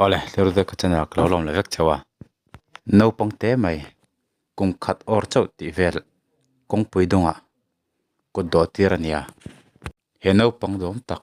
Awle thlir vek a chena ka lo lawm leh vek cheu a, naupang te mai kum khat awr chauh tih vel kawngpui dawng ah kut dawh tir a nia, he naupang zawm tak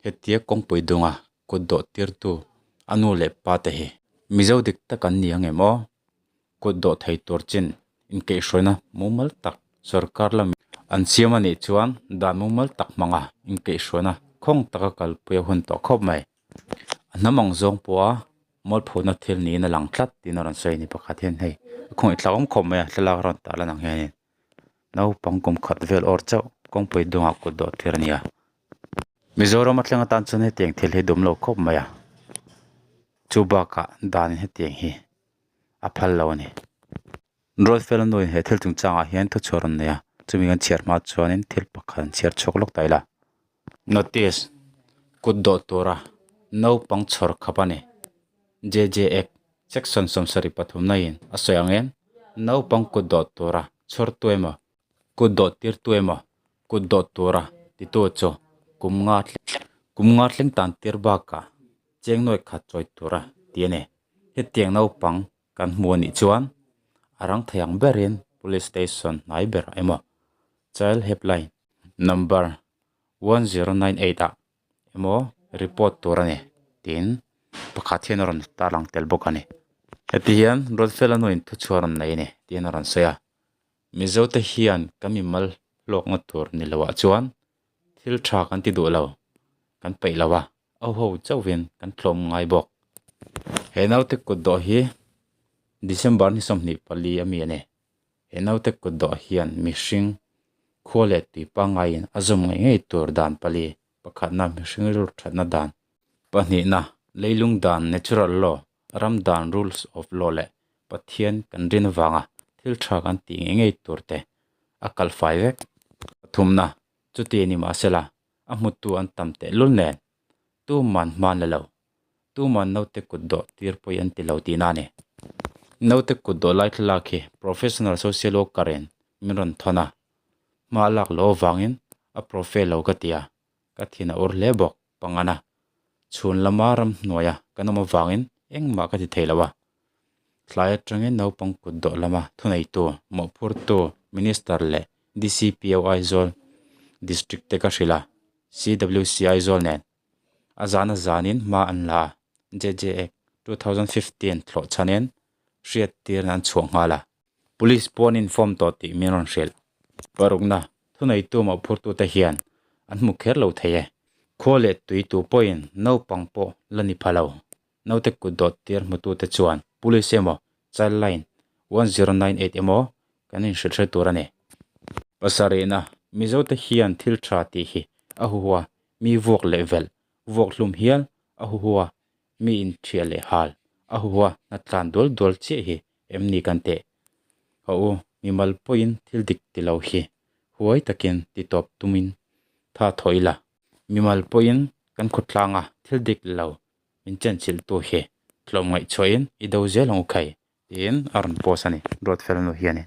hetia kawngpui dawng ah kut dawh tir tu a nu leh pa te hi Mizo dik tak an ni ang em aw? Kut dawh thei tur chin inkeihhruaina mumal tak sorkar lamin an siam a nih chuan dan mumal tak hmanga inkeihhruaina khawng taka kalpui a hun tawh khawp mai. A hnam ang zawng pawha mawlphurhna thil niin a lang tlat tiin a rawn sawi a ni pakhat hian hei a khawng itlakawm khawp mai a thlalak a rawn tah lan ang hianin naupang kum khat vel awr chauh kawngpui dungah kut dawh thlir a ni a. Mizoram a thleng atan chuan hetiang thil hi dum lo khawp mai a, chu bakah danin hetiang hi a phal lo a ni. Rolfela nuin he thil chungchangah hian thuchhuah a rawn nei a, chumi kan chhiar hma chuanin thil pakhat an chhiar chhuak lawk ta ila. Notice, Kut dawh tura naupang chhawr khap a ni. JJF, Section sawmsari pathum naiin a sawi ang em? Naupang kut dawh tura chhawrtu emaw Kut dawt tirtu emaw? Kut dawt tura titu chu kum nga kum nga thleng tan tir bakah cheng nuaih khat chawi tura ti a ni. Hetiang naupang kan hmu a nih chuan a rang thei ang berin Police Station hnai berah emaw, Child Helpline number one zero nine eight ah emaw report tur a ni, tiin pakhat hian a rawn tarlang tel bawk a ni. Heti hian Ruatfela nuin thuchhuah a rawn nei a ni tiin a rawn sawi a. Mizote hian kan mi mal hlawk ngawt tur ni loah chuan thil tha kan ti duh lo, kan peih lo a, auho chauhin kan tlawm ngai bawk. He naute kut dawh hi December ni sawmhnih pali a mi a ni. He naute kut dawh hian mihring khua let tui pangaiin a zawm ngei ngei tur dan pali, pakhatna mihring rilru thatna dan, pahnihna leilung dan, natural law, ram dan rules of law leh Pathian kan rin avanga thil tha kan tih ngei ngei tur te a kal fai vek. Pathumna, chuti ni mahsela, a hmutu an tam teh lul nen, tu man hmaan le lo, tu man naute kut dawh tir pawih an ti lo tih na a ni. Naute kut dawh lai thlalak hi professional social worker-in min rawn thawn a, hma a lak loh avangin a profe lo ka ti a, ka thin a ur hle bawk. Pangana, chhun lama ramhnuaia kan awm avangin engmah ka ti thei lo a, tlai atangin naupang kut dawh lama thuneitu, mawhphurtu, Minister leh DCPO Aizawl District te ka hrilh a, CWC Aizawl nen a zan a zanin hma an la a, JJAC two thousand fifteen thlawhchhanin hriattirna an chhuah nghal a. Police pawh an inform tawh tih min rawn hrilh. Parukna thuneitu mah phurtute hian an hmu kher lo thei e. Khua leh tui tu pawhin naupang pawh la ni pha lo. Naute kut dawt tir hmutute chuan Police emaw, Child Line one zero nine eight emaw kan inhrilhhrilh tur a ni. Pasarihna, Mizote hian thil tha tih hi a huhua, mi vuak leh velh, vuak hlum hial a huhua, mi in thial leh hal a hua na tlan dual dual chiah hi em ni kan teh haw u mimal pawhin thil dik ti lo hi huai takin ti tawp tum in tha thaw ila mimal pawhin kan khawtlang a thil dik lo min chenchilh tu hi tlawm ngaihchhuah in i do zel ang u khai tiin a rawn post a ni Ruatfel nu hian in.